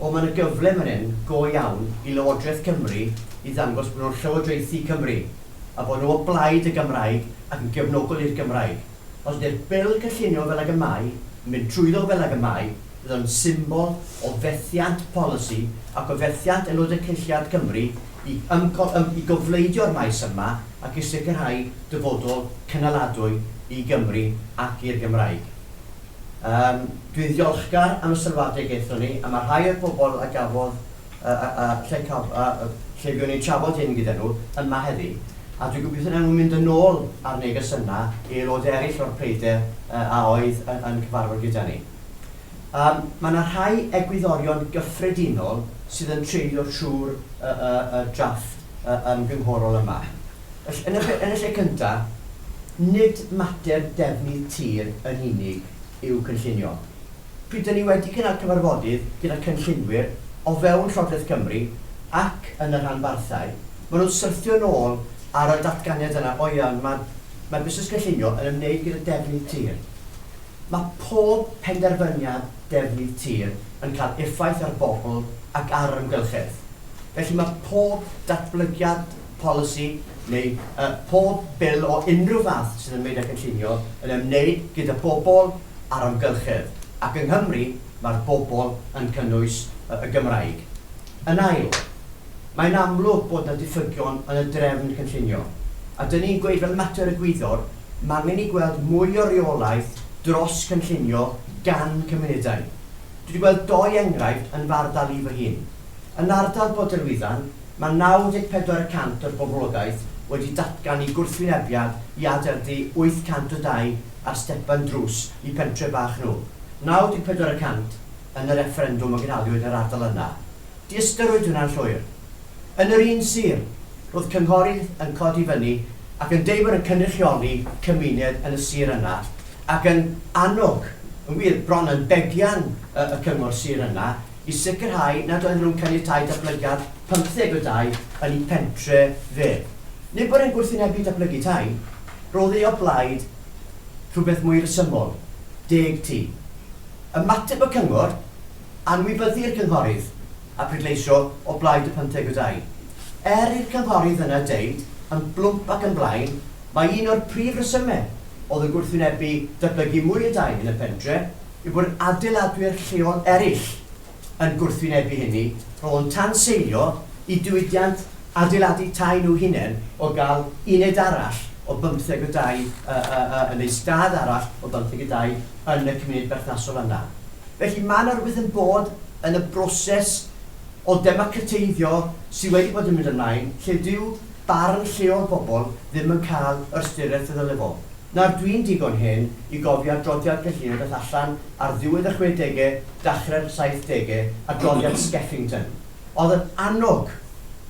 O, mae yna gyfle fan hyn go iawn i Lywodraeth Cymru i ddangos bod nhw'n llywodraethu Cymru, a bod nhw o blaid y Gymraeg ac yn gefnogol i'r Gymraeg. Os ydy'r Bil cynllunio fel ag y mae, yn mynd trwyddo fel ag y mae, fydd o'n symbol o fethiant polisi ac o fethiant Aelodau Cynulliad Cymru i ymcol- ym- i gofleidio'r maes yma ac i sicrhau dyfodol cynaladwy i Gymru ac i'r Gymraeg. Yym, dwi'n ddiolchgar am y sylwadau gaethon ni, a mae rhai o'r pobl a gafodd y, y, y, lle caf, y, y, lle fuon ni'n trafod hyn gyda nhw, yma heddi, a dwi'n gobeithio wnawn nhw mynd yn ôl â'r neges yna i aelodau eraill o'r pryder y, a oedd yn, yn cyfarfod gyda ni. Yym, mae yna rhai egwyddorion gyffredinol sydd yn treulio trwy'r, y, y, y drafft y, ymgynghorol yma. Yn y lle cyntaf, nid mater defnydd tir yn unig yw cynllunio. Pryd dŷn ni wedi cynnal cyfarfodydd gyda chynllunwyr o fewn Llywodraeth Cymru ac yn y rhanbarthau, maen nhw'n syrthio'n ôl ar y datganiad yna, O ia, ond mae mae busnes cynllunio yn ymwneud gyda defnydd tir. Mae pob penderfyniad defnydd tir yn cael effaith ar bobl ac ar yr amgylchedd, felly mae pob datblygiad, polisi neu yy pob bil o unrhyw fath sydd ymwneud â cynllunio yn ymwneud gyda bobl a'r amgylchedd, ac yng Nghymru mae'r bobl yn cynnwys yy y Gymraeg. Yn ail, mae'n amlwg bod 'na ddiffygion yn y drefn cynllunio, a 'dyn ni'n gweud fel mater egwyddor, m'angen ni gweld mwy o reolaeth dros gynllunio gan cymunedau. Dwi 'di gweld dou enghraifft yn fy ardal i fy hun. Yn ardal Bodelwyddan, mae 94 y cant o'r boblogaeth wedi datgan eu gwrthwynebiad i adeiladu 800 o dai ar stepan drws i pentre' bach nhw, 94 y cant yn y refferendwm a gynhaliwyd yn yr ardal yna. Diystyriwyd hwnna'n llwyr. Yn yr un sir, roedd cynghorydd yn codi fyny ac yn deud bod yn cynrychioli cymuned yn y sir yna ac yn annog, yn wir, bron yn begian y cyngor sir yna, i sicrhau nad oedden nhw'n caniatáu datblygiad pymtheg o dai yn eu pentre' fe. Nid bod e'n gwrthwynebu datblygu tai, roedd e o blaid rhywbeth mwy resymol, deg tŷ. Ymateb y cyngor, Anwybyddu'r cynghorydd, a pleidleisio o blaid y pymtheg o dai. Er i'r cynghorydd yna ddeud yn blwmp ac yn blaen mai un o'r prif resymau oedd yn gwrthwynebu datblygu mwy o dai yn y pentre', yw bod adeiladwyr lleol eraill yn gwrthwynebu hynny, rho'n tanseilio i diwydiant adeiladu tai nhw hunain o gael uned arall o bymtheg o dai neu stad arall o bymtheg o dai yn y cymuned berthnasol yna. Felly, mae 'na rywbeth yn bod yn y broses o ddemocrateiddio sydd wedi bod yn mynd ymlaen lle dyw barn lleol bobl ddim yn cael yr ystyriaeth y ddyle fo. Nawr dwi'n digon hen i gofio adroddiad Cellini ddaeth allan ar ddiwedd y chwedege, dachre'r saithdege, adroddiad Skeffington. Oedd yn annog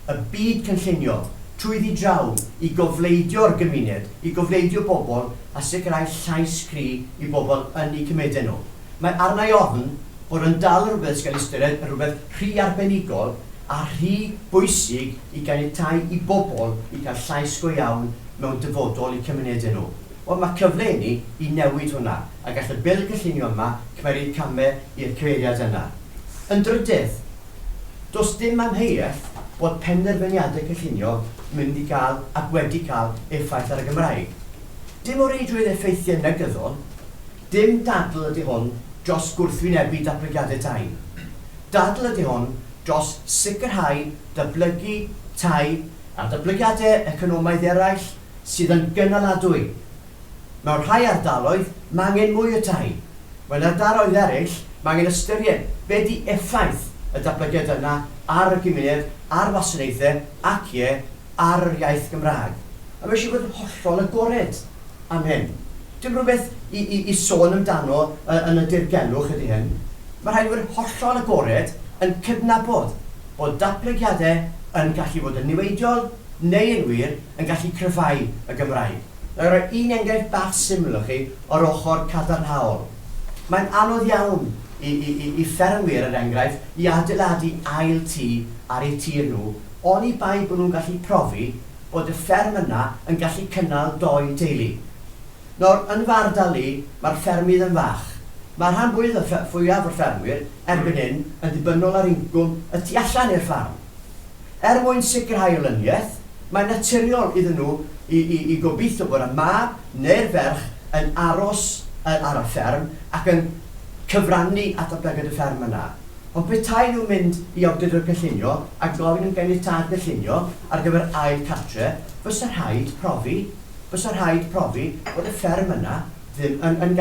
y byd cynllunio trwyddi draw i gofleidio'r gymuned, i gofleidio bobl a sicrhau llais cry i bobl yn eu cymedau nhw. Mae arna i ofn fod yn dal rhywbeth sy'n cael ei ystyried yn rhywbeth rhy arbenigol a rhy bwysig i ganiatáu i bobl i gael llais go iawn mewn dyfodol i cymunedau nhw. Wel, mae cyfle inni i newid hwnna, a gall y Bil Cynllunio yma cymeryd camau i'r cyfeiriad yna. Yn drydydd, does dim amheuaeth bod penderfyniadau cynllunio yn mynd i gael ac wedi cael effaith ar y Gymraeg. Dim o reidrwydd effeithiau negyddol, Dim dadl ydy hwn dros gwrthwynebu datblygiadau tai. Dadl ydy hwn dros sicrhau datblygu tai a datblygiadau economaidd eraill sydd yn gynaladwy. Mewn rhai ardaloedd, mae angen mwy o tai. Mewn ardaloedd eraill, mae angen ystyried be ydy effaith y datblygiad yna ar y gymuned, ar wasanaethau ac, ie, ar yr iaith Gymraeg. A mae eisiau bod yn hollol agored. Amen. Dim rhywbeth i, i, i sôn amdano yn y dirgelwch ydy hyn. Mae rhaid i fod hollol agored yn cydnabod bod datblygiadau yn gallu bod yn niweidiol neu yn wir yn gallu cryfhau y Gymraeg. Wna i roi un enghraifft bach syml i chi o'r ochr cadarnhaol. Mae'n anodd iawn i, i, i, i ffermwyr, er enghraifft, i adeiladu ail tŷ ar eu tir nhw oni bai bod nhw'n gallu profi bod y fferm yna yn gallu cynnal dou deulu. Nawr, yn fy ardal i, mae'r ffermydd yn fach. Mae rhan fwydd y ffe-, fwyaf o'r ffermwyr erbyn hyn yn ddibynnol ar incwm y tu allan i'r ffarm. Er mwyn sicrhau olyniaeth, mae'n naturiol iddyn nhw i, i, i gobeithio bod y mab neu'r ferch yn aros y-, ar y fferm ac yn cyfrannu at ddatblygiad y fferm yna. Ond petai nhw'n mynd i Awdurdod Cynllunio a gofyn am ganiatâd cynllunio, Ar gyfer ail cartre, fysa rhaid profi, fysa rhaid profi bod y fferm yna ddim yn, yn